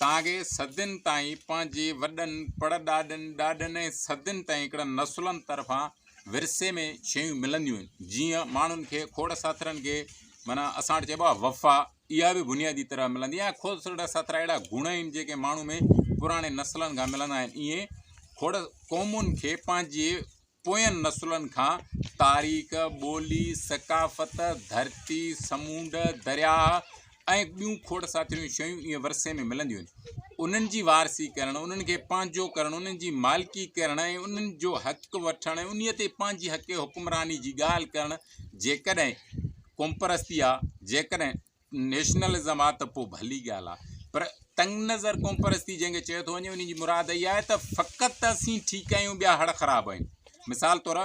تانگي صدين تائين پنهنجي وڏن، پڙڏاڏن، ڏاڏن ۽ صدين تائين هڪڙن نسلن طرفان ورثي ۾ شيون ملنديون آهن، جيئن ماڻهن کي کوڙ ساٿرن کي معنيٰ اسان وٽ چئبو آهي وفا اها به بنيادي طرح ملندي آهي ۽ کوڙ ساٿرا اهڙا گڻ آهن جيڪي ماڻهو ۾ پراڻي نسلن کان ملندا آهن ايئن کوڙ قومن کي پنهنجي پوين نسلن کان تاريخ، ٻولي، ثقافت، ڌرتي، سمونڊ، درياء ۽ ٻيون کوڙ ساٿريون شيون ايئن ورثي ۾ ملنديون آهن. انهن جي وارثي ڪرڻ، انهن کي پنهنجو ڪرڻ، انهن جي مالڪي ڪرڻ ۽ انهن جو حق وٺڻ ۽ انهيء تي پنهنجي حق حڪمراني جي ڳالهه ڪرڻ جيڪڏهن قومپرستي آ، جيڪڏهن نيشنلزم آ ته پو ڀلي ڳالهه آ پر تنگ نظر قوم پرستي جنهن کي چيو ٿو وڃي ان جي مراد اها آهي ته فقط اسين ٺيڪ آهيون ٻيا هڙ خراب آهن مثال طور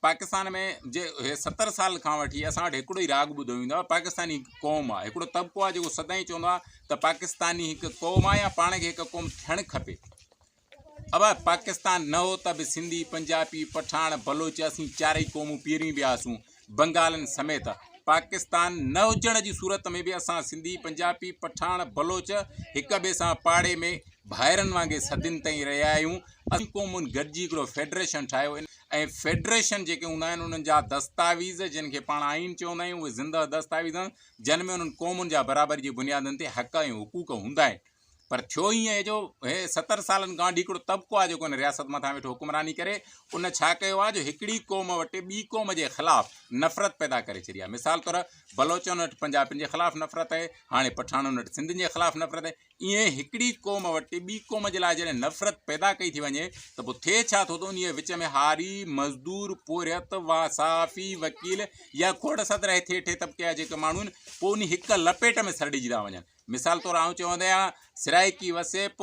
پاڪستان ۾ جي ستر سال کان وٺي اسان وٽ هڪڙو ئي راڳ ٻڌو ويندو آهي پاڪستاني قوم آهي هڪڙو طبقو آهي جيڪو سدائين چوندو آهي ته پاڪستاني هڪ قوم آهي يا پاڻ کي هڪ قوم ٿيڻ کپي اگر پاڪستان نه هو ته به سنڌي، پنجابي، پٺاڻ، بلوچ اسين چارئي قومون پيرين ويا هئاسون، بنگالين سميت. پاڪستان نه هجڻ جي صورت ۾ به اسان سنڌي، پنجابي، پٺاڻ، بلوچ هڪ ٻئي سان پاڙي ۾ ڀائرن وانگي صدين تائين رهيا آهيون. اسين قومن گڏجي هڪڙو فيڊريشن ٺاهيو ۽ فيڊريشن جيڪي هوندا آهن انهن جا دستاويز جن کي پاڻ آئين چوندا آهيون اهي زنده دستاويز آهن جن ۾ انهن قومن جا برابري جي بنيادن تي حق ۽ حقوق هوندا آهن. پر ٿيو ائين آهي جو هي ستر سالن کان وٺي هڪڙو طبقو آهي جيڪو هن رياست مٿان ويٺو حڪمراني ڪري ان ڇا ڪيو آهي جو هڪڙي قوم وٽ ٻي قوم جي خلاف نفرت پيدا ڪري ڇڏي آهي مثال طور بلوچن وٽ پنجابين جي خلاف نفرت آهي هاڻي پٺاڻن وٽ سنڌين جي خلاف نفرت آهي ائين هڪڙي قوم وٽ ٻي قوم جي لاء جڏهن نفرت پيدا ڪئي ٿي وڃي ته پوء ٿئي ڇا ٿو ته انهي وچ ۾ هاري مزدور پورهيت وا صحافي وڪيل يا کوڙ صدر هيٺي هيٺي طبقي جا جيڪي ماڻهو آهن پوء انهي هڪ لپيٽ ۾ سرڙجي ٿا وڃن مثال طور آئون چونديان سرائيڪي وسيپ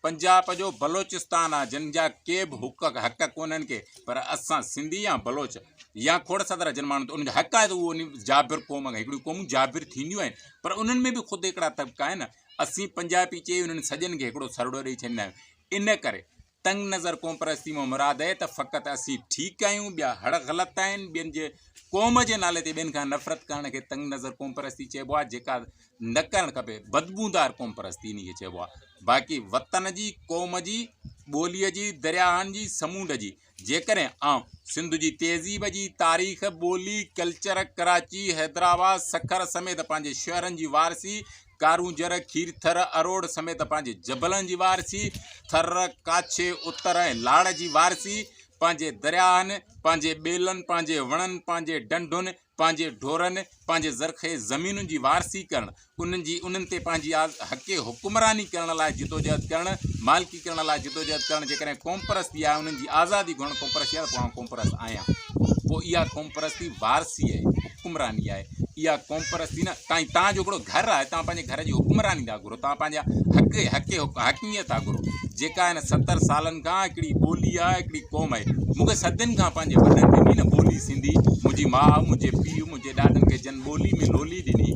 پنجاب جو بلوچستان آ جن جا ڪي به حق حق ڪونن ڪي پر اسان سنڌي يا بلوچ يا کوڙ صدر جن ماڻهن ان جا حق آهي تو ان جابر قوم کي هڪڙي قوم جابر ٿينديون آهن پر انن ۾ به خود هڪڙا طبقا آهن اسين پنجابي چي انن سڄن کي هڪڙو سرڙو ڏيئي ڇڏندا آهن ان ڪري تنگ نظر قوم پرستي مان مراد اهي ته فقط اسين ٺيڪ آهيون ٻيا هڙ غلط آهن ٻين جي قوم جي نالي تي ٻين کان نفرت ڪرڻ کي تنگ نظر قوم پرستي چئبو آهي جيڪا نه ڪرڻ کپي بدبودار قوم پرستي انهي کي چئبو آهي باقي وطن جي قوم جي ٻولي جي درياهن جي سمونڊ جي جيڪڏهن آئون سنڌ جي تهذيب جي تاريخ ٻولي ڪلچر ڪراچي حيدرآباد سکر سميت پنهنجي شهرن جي وارثي ڪارونجهر، کيرٿر، اروڙ سميت پنهنجي جبلن جي وارثي، ٿر، ڪاڇي، اتر ۽ لاڙ جي وارثي، پنهنجي درياهن، پنهنجي ٻيلن، پنهنجي وڻن، پنهنجي ڍنڍن، پنهنجي ڍورن، پنهنجي زرخيز زمينن جي وارثي ڪرڻ، انهن جي انهن تي پنهنجي حقي حڪمراني ڪرڻ لاء جدوجهد ڪرڻ، مالڪي آزادي ڪرڻ لاء جدوجهد ڪرڻ جيڪڏهن قومپرستي آهي انهن جي آزادي گهرڻ قومپرستي آهي پوء قومپرست آهيان پوء اها قومپرستي وارثي آهي حڪمراني آهي اها قومپرستي نه تائين تان جو هڪڙو گهر آهي تان پنهنجي گهر جي حڪمراني ٿا گهرو تان پنهنجا حق حق حقميت ٿا گهرو جيڪا هن ستر سالن کان هڪڙي ٻولي آهي هڪڙي قوم آهي مونکي صدين کان پنهنجي وڏن ڏني نه ٻولي سنڌي منهنجي ماء منهنجي پيء منهنجي ڏاڏن کي جن ٻولي ۾ لولي ڏني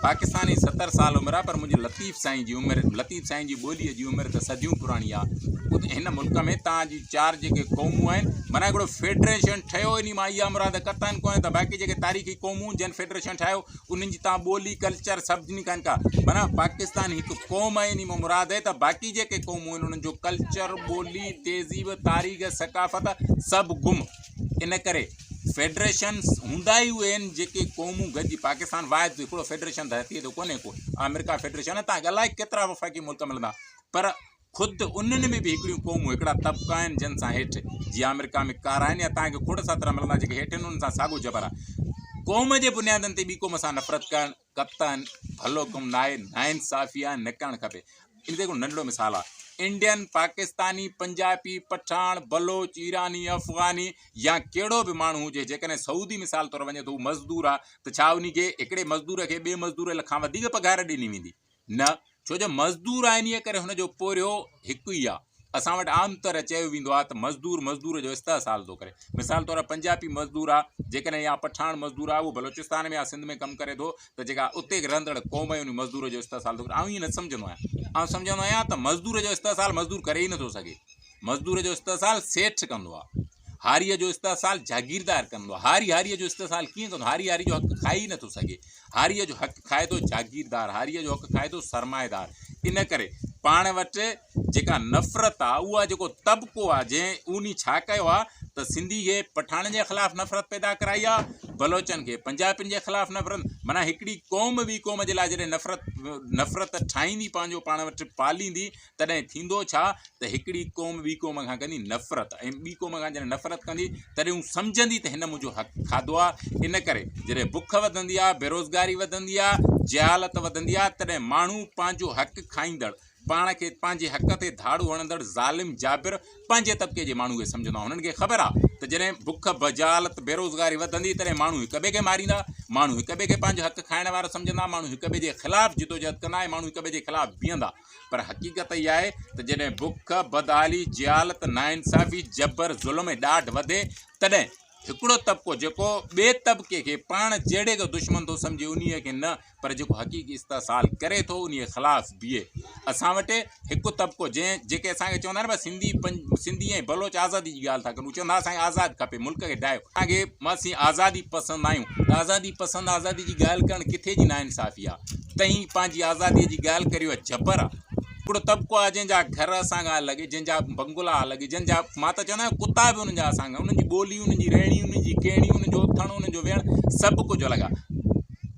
پاڪستاني ستر سال عمر آهي پر منهنجي لطيف سائين جي عمر لطيف سائين جي ٻوليء جي عمر ته صديون پراڻي آ. خود هن ملڪ ۾ تان جون چار جيڪي قومون آهن، معنيٰ هڪڙو فيڊريشن ٺهيو، انهي مان اها مراد قطعاً ڪونهي ته باقي جيڪي تاريخي قومون جن فيڊريشن ٺاهيو، انهن جي تان ٻولي، ڪلچر، سڀني کان ڪا، معنيٰ پاڪستان هڪ قوم آهي، انهي مان مراد آهي ته باقي جيڪي قومون آهن، انهن جو ڪلچر، ٻولي، تهذيب، تاريخ، ثقافت سڀ گم. ان ڪري. فيڊريشنز هوندا ئي اهي آهن جيڪي قومون گڏجي پاڪستان واحد هڪڙو فيڊريشن ته هتي ايڏو ڪونهي ڪو آمريڪا فيڊريشن آهي تان الائي ڪيترا وفاقي ملڪ ملندا پر خود انهن ۾ به هڪڙيون قومون هڪڙا طبقا آهن جن سان هيٺ جي آمريڪا ۾ ڪارا آهن يا تان کي کوڙ ساترا ملندا جيڪي هيٺ آهن انهن سان ساڳو جبر آهي قوم جي بنيادن تي ٻي قوم سان نفرت ڪرڻ ڪپتان ڀلو ڪم ناهي، ناانصافي آهي، نڪرڻ کپي. ان تي هڪڙو ننڍڙو مثال آهي. انڊين، پاڪستاني، پنجابي، پٺاڻ، بلوچ، ايراني، افغاني يا ڪهڙو به ماڻهو هجي جيڪڏهن سعودي مثال طور وڃي ٿو هو مزدور آهي ته ڇا ان کي هڪڙي مزدور کي ٻئي مزدور کان وڌيڪ پگهار ڏني ويندي؟ نه، ڇو جو مزدور آهي انهيء ڪري هن جو پورهيو هڪ ئي آهي. اسان وٽ عام طرح چيو ويندو آهي ته مزدور مزدور جو استحصال ٿو ڪري. مثال طور پنجابي مزدور آهي جيڪڏهن يا پٺاڻ مزدور آهي اهو بلوچستان ۾ يا سنڌ ۾ ڪم ڪري ٿو ته جيڪا اتي رهندڙ قوم آهي انهي مزدور جو استحصال ٿو ڪري. آئون ائين نه سمجهندو آهيان. آئون سمجهندو آهيان ته مزدور جو استحصال مزدور ڪري ئي نٿو سگهي. مزدور جو استحصال سيٺ ڪندو آهي. هاريء جو استحصال جاگيردار ڪندو. هاري هاريء جو استحصال ڪيئن ڪندو؟ هاري هاريء جو حق کائي ئي نه ٿو سگهي. هاريء جو حق کائي ٿو جاگيردار، هاريء جو حق کائي ٿو سرمائيدار. ان ڪري پاڻ وٽ جيڪا نفرت آ، اها جيڪو طبقو آ، جنهن اونهي ڇا ڪيو آ ته سنڌي کي پٺاڻن جي خلاف نفرت پيدا ڪرائي آ، بلوچن کي پنجابين جي خلاف نفرت، معنيٰ هڪڙي قوم ٻي قوم جي لاء جڏهن نفرت نفرت ٺاهيندي، پنهنجو پاڻ وٽ پاليندي، تڏهن ٿيندو ڇا ته هڪڙي قوم ٻي قوم کان ڪندي نفرت ۽ ٻي قوم کان جڏهن نفرت ڪندي تڏهن هو سمجهندي ته هن منهنجو حق کاڌو آهي ان ڪري جڏهن بک وڌندي آهي بيروزگاري وڌندي آهي جهالت وڌندي آهي تڏهن ماڻهو پنهنجو حق کائيندڙ پاڻ کي پنهنجي حق تي ڌاڙو هڻندڙ ظالم جابر پنهنجي طبقي جي ماڻهو کي سمجهندا هنن کي خبر آهي ته جڏهن بک بجالت بيروزگاري وڌندي تڏهن ماڻهو هڪ ٻئي کي ماريندا ماڻهو هڪ ٻئي کي پنهنجو حق کائڻ وارو سمجهندا ماڻهو هڪ ٻئي جي خلاف جدوجهد ڪندا ۽ ماڻهو هڪ ٻئي جي خلاف بيهندا پر حقيقت اها آهي ته جڏهن بک، بدحالي، جهالت، ناانصافي، جبر، ظلم ۽ ڏاڍ وڌي تڏهن هڪڙو طبقو جيڪو ٻئي طبقي کي پاڻ جهڙي کي دشمن ٿو سمجهي انهي کي نه پر جيڪو حقيقي استحصال ڪري ٿو انهي خلاف بيهي. اسان وٽ هڪ طبقو جنهن جيڪي اسان کي چوندا آهن نه سنڌي سنڌي ۽ بلوچ آزادي جي ڳالهه ٿا ڪن هو چون ٿا اسان کي آزاد کپي ملڪ کي ڊاهيو اسان کي اسين آزادي پسند آهيون ته آزادي پسند آزادي جي ڳالهه ڪرڻ ڪٿي جي ناانصافي آهي. تنهين پنهنجي آزاديء جي ڳالهه ڪريو ها جبر آ ڪهڙو طبقو آ جنهن جا گهر اسان کان الڳ جنهن جا بنگلا الڳ جنهن جا مان ته چوندو آهيان ڪتا به انهن جا اسان کان انهن جي ٻولي انهن جي رهڻي انهن جي ڪهڻي انهن جو اٿڻ انهن جو ويهڻ سڀ ڪجهه الڳ آ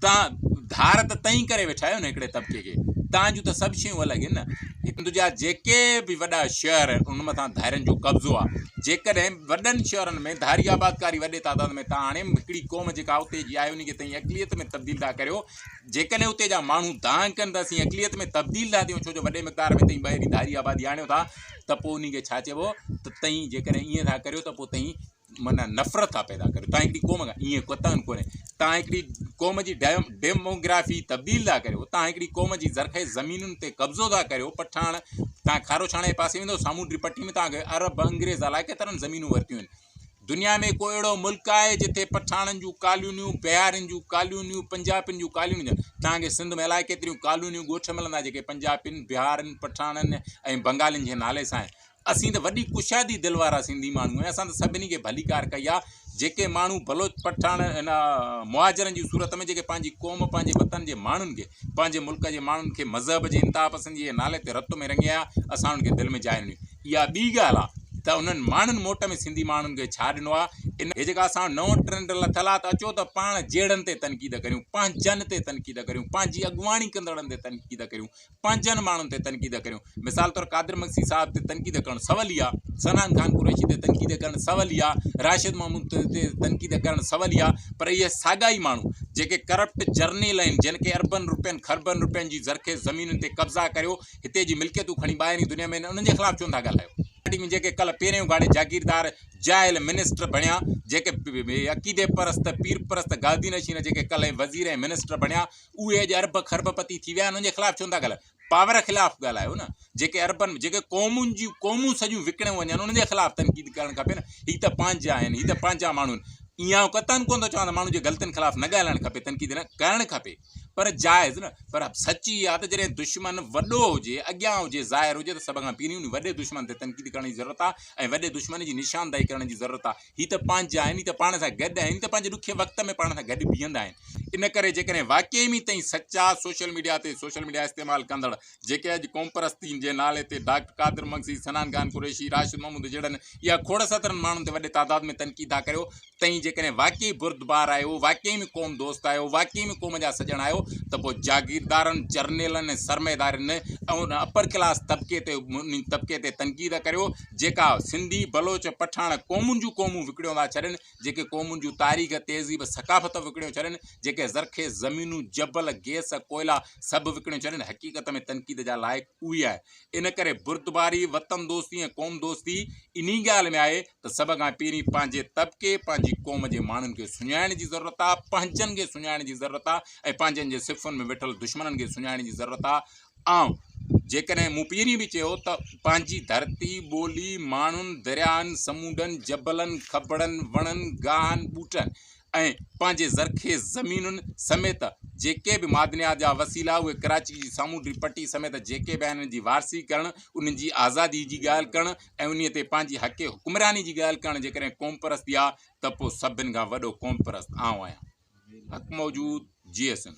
تان ڌار ته تئين ڪري ويٺا آهيو نه هڪڙي طبقي کي تان جون ته سڀ شيون الڳ آهن نه هند جا جيڪي به وڏا شهر آهن ان مٿان ڌارين جو قبضو آ جيڪڏهن وڏن شهرن ۾ ڌاري آبادڪاري وڏي تعداد ۾ تان آڻي هڪڙي قوم جيڪا اتي جي آهي انهي کي تئين اقليت ۾ تبديل ٿا ڪريو جيڪڏهن اتي جا ماڻهو دانهن ڪن ته اسين اقليت ۾ تبديل ٿا ٿيون، ڇو جو وڏي مقدار ۾ تئين ٻاهرين ڌاري آبادي آڻيو ٿا ته پوء انهي کي ڇا چئبو ته تئين جيڪڏهن ائين ٿا ڪريو ته پوء تئين معنيٰ نفرت ٿا پيدا ڪريو، تان هڪڙي قوم کان ائين قطعاً ڪونهي، تان هڪڙي قوم جي ڊيموگرافي تبديل ٿا ڪريو، تان هڪڙي قوم جي زرخيز زمينن تي قبضو ٿا ڪريو، پٺاڻ تان کاروڇاڻي پاسي ويندو سامونڊي پٽي ۾ تان کي عرب، انگريز الاء ڪيترن زمينون ورتيون آهن. دنيا ۾ ڪو اهڙو ملڪ آهي جتي پٺاڻن جون ڪالونيون بهارين جون ڪالونيون پنجابين جون ڪالونيون هجن توهان کي سنڌ ۾ الائي ڪيتريون ڪالونيون ڳوٺ ملندا جيڪي پنجابين بهارين پٺاڻن ۽ بنگالين جي نالي سان آهن اسين ته وڏي ڪشادي دل وارا سنڌي ماڻهو آهيون اسان ته سڀني کي ڀليڪار ڪئي آهي جيڪي ماڻهو بلوچ پٺاڻ ان مهاجرن جي صورت ۾ جيڪي پنهنجي قوم پنهنجي وطن جي ماڻهن کي پنهنجي ملڪ جي ماڻهن کي مذهب جي انتها پسندي جي نالي تي رت ۾ رڱي آيا اسان انهن کي دل ۾ جاء ڏني اها ٻي ڳالهه آ ته انهن ماڻهن موٽ ۾ سنڌي ماڻهن کي ڇا ڏنو آ؟ ان کي جيڪا اسان وٽ نئون ٽرينڊ لٿل آ ته اچو ته پاڻ جهيڙن تي تنقيد ڪريون، پنهنجن تي تنقيد ڪريون، پنهنجي اڳواڻي ڪندڙن تي تنقيد ڪريون، پنهنجن ماڻهن تي تنقيد ڪريون. مثال طور قادر مگسي صاحب تي تنقيد ڪرڻ سول ئي آ، صنعان خان قريشي تي تنقيد ڪرڻ سول ئي آ، راشد محمود تي تنقيد ڪرڻ سول ئي آ پر اهي ساڳا ئي ماڻهو جيڪي ڪرپٽ جرنيل آهن جن کي اربن روپين خربن روپين جي زرخيز زمينن تي قبضا ڪريو هتي جي ملڪيتون کڻي ٻاهرين دنيا ۾ انهن جي خلاف ڇونه ٿا ڳالهايو؟ پارٽي ۾ جيڪي ڪلهه پيرين اگهاڙي جاگيردار جاهل منسٽر بڻيا، جيڪي عقيدي پرست، پير پرست، گادي نشين جيڪي ڪلهه ۽ وزير ۽ منسٽر بڻيا، اهي اڄ ارب کرب پتي ٿي ويا، انهن جي خلاف ڇونه ٿا ڳالهايو؟ پاور خلاف ڳالهايو نه، جيڪي اربن، جيڪي قومن جون قومون سڄيون وڪڻيون وڃن، انهن جي خلاف تنقيد ڪرڻ کپي نه، هي ته پنهنجا آهن، هي ته پنهنجا ماڻهو آهن. اهي آئون قطعاً ڪونه ٿو چوان ته ماڻهن جي غلطين خلاف نه ڳالهائڻ کپي، تنقيد نه ڪرڻ کپي. پر جائز نه پر سچ اها ته جڏهن دشمن وڏو هجي، اڳيان هجي، ظاهر هجي ته سڀ کان پهرين انهي وڏي دشمن تي تنقيد ڪرڻ جي ضرورت آهي ۽ وڏي دشمن جي نشاندهي ڪرڻ جي ضرورت آهي. هي ته پنهنجا آهن، هي ته پاڻ سان گڏ آهن، هي ته پنهنجي ڏکي وقت ۾ پاڻ سان گڏ بيهندا آهن. ان ڪري جيڪڏهن واقعي ۾ تئين سچا سوشل ميڊيا تي سوشل ميڊيا استعمال ڪندڙ جيڪي اڄ قومپرستي جي نالي تي ڊاڪٽر قادر مگسي، سنان خان قريشي، راشد محمود جهڙن اها کوڙ سترن ماڻهن تي وڏي تعداد ۾ تنقيد ٿا ڪريو، تئين جيڪڏهن واقعي بردبار آهيو، واقعي ۾ قوم دوست آهيو، واقعي ۾ قوم جا سڄڻ آهيو ته پوء جاگيردارن، جرنيلن ۽ سرمائيدارن ۽ ان اپر ڪلاس طبقي تي انهي طبقي تي تنقيد ڪريو جيڪا سنڌي، بلوچ، پٺاڻ قومن جون قومون وڪڙيون ٿا ڇڏين، جيڪي قومن جون تاريخ، تهذيب، ثقافت وڪڙيون ڇڏين، جيڪي زرخيز زمينون، جبل، گيس، ڪوئلا سڀ وڪڙيون ڇڏين، حقيقت ۾ تنقيد جا لائق اهي آهن. ان ڪري بردباري، وطن دوستي ۽ قوم دوستي انهي ڳالهه ۾ آهي ته سڀ کان پهرين پنهنجي طبقي، پنهنجي قوم جي ماڻهن کي سڃاڻڻ جي ضرورت آهي، پنهنجن کي سڃاڻڻ جي ضرورت آهي ۽ پنهنجن جي صفن ۾ ويٺل دشمنن کي سڃاڻڻ جي ضرورت آهي ۽ جيڪڏهن مون پهرين به چيو ته پنهنجي ڌرتي، ٻولي، ماڻهن، درياهن، سمونڊن، جبلن، کٻڙن، وڻن، گاهن، ٻوٽن ۽ ۽ پنهنجي زرخيز زمينن سميت جيڪي به معدنيات جا وسيلا اهي ڪراچي جي سامونڊي پٽي سميت جيڪي به آهن انهن جي وارثي ڪرڻ انهن جي آزادي جي ڳالهه ڪرڻ ۽ انهي تي پنهنجي حق حڪمراني جي ڳالهه ڪرڻ جيڪڏهن قومپرستي آهي ته پوء سڀن کان وڏو قومپرست آئون آهيان حق موجود جي ايس اين